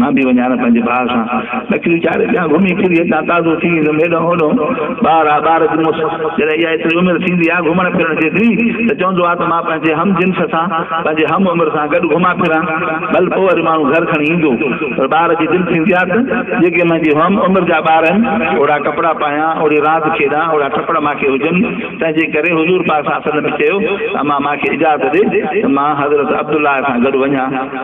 مان به وڃان ها پنهنجي ڀاء سان. لکي ويچاري ڏيان گهمي ڦري هتان تازو ٿي ايندم هيڏانهن هوڏانهن ٻار آ ٻار جموس جڏهن اها ايتري عمر ٿيندي آ گهمڻ ڦرڻ جيتري ته چوندو آ ته مان پنهنجي هم جنس سان پنهنجي هم عمر سان گڏ گهمان ڦران ڀل پوء وري ماڻهو گهر کڻي ايندو پر ٻار جي دل ٿيندي آ ته جيڪي منهنجي هم عمر جا ٻار آهن اوڙا ڪپڙا پايان اوڙي راند کيڏان اوڙا ٽپڙ مان کي هجن تنهنجي ڪري حضور پاڪ صلعم چيو ته امان مان کي اجازت ڏي ته مان حضرت عبدالله سان گڏ وڃان.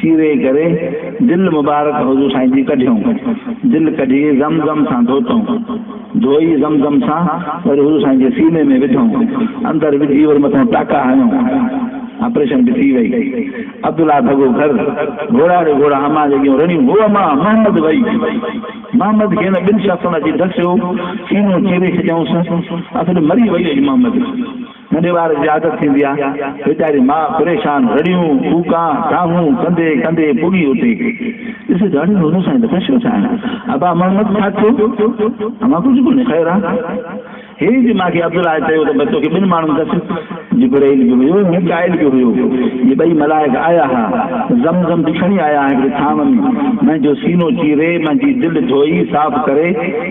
چيري ڪري دل مبارڪ حضور سائين جي ڪڍيئون دل ڪڍي زم زم سان ڌوتئون ڌوئي زم زم سان وري حضور سائين جي سيني ۾ وڌئون اندر وجهي وري مٿئون ٽاڪا هنيون آپريشن به ٿي وئي عبدالله ڀڳو گهر گهوڙا ڙي گهوڙا امان جڳهيون رڙيون هو امان محمد وئي محمد کي هن ٻن شخصن اچي ڌسيو سينو چيري ڇڏيائونس اصل مري وئي اڄ محمد ننڍي ٻار جي عادت ٿيندي آ ويچاري ماء پريشان رڙيون ڪوڪان دانهون ڪندي ڪندي پڳي اتي ڏسي ڏاڍي نوزن سان لکيو ڇو ڇا آهي ابا محمد ڇا ٿيو امان ڪجهه ڪونهي خير آ هي جي مان کي عبدالله چيو ته بس توکي ٻن ماڻهن دس جبرائيل به هيو ميڪائيل به هيو جي ٻئي ملائڪ آيا ها زم زم به کڻي آيا هڪڙي ٿانو ۾ منهنجو سينو چيري منهنجي دل ڌوئي صاف ڪري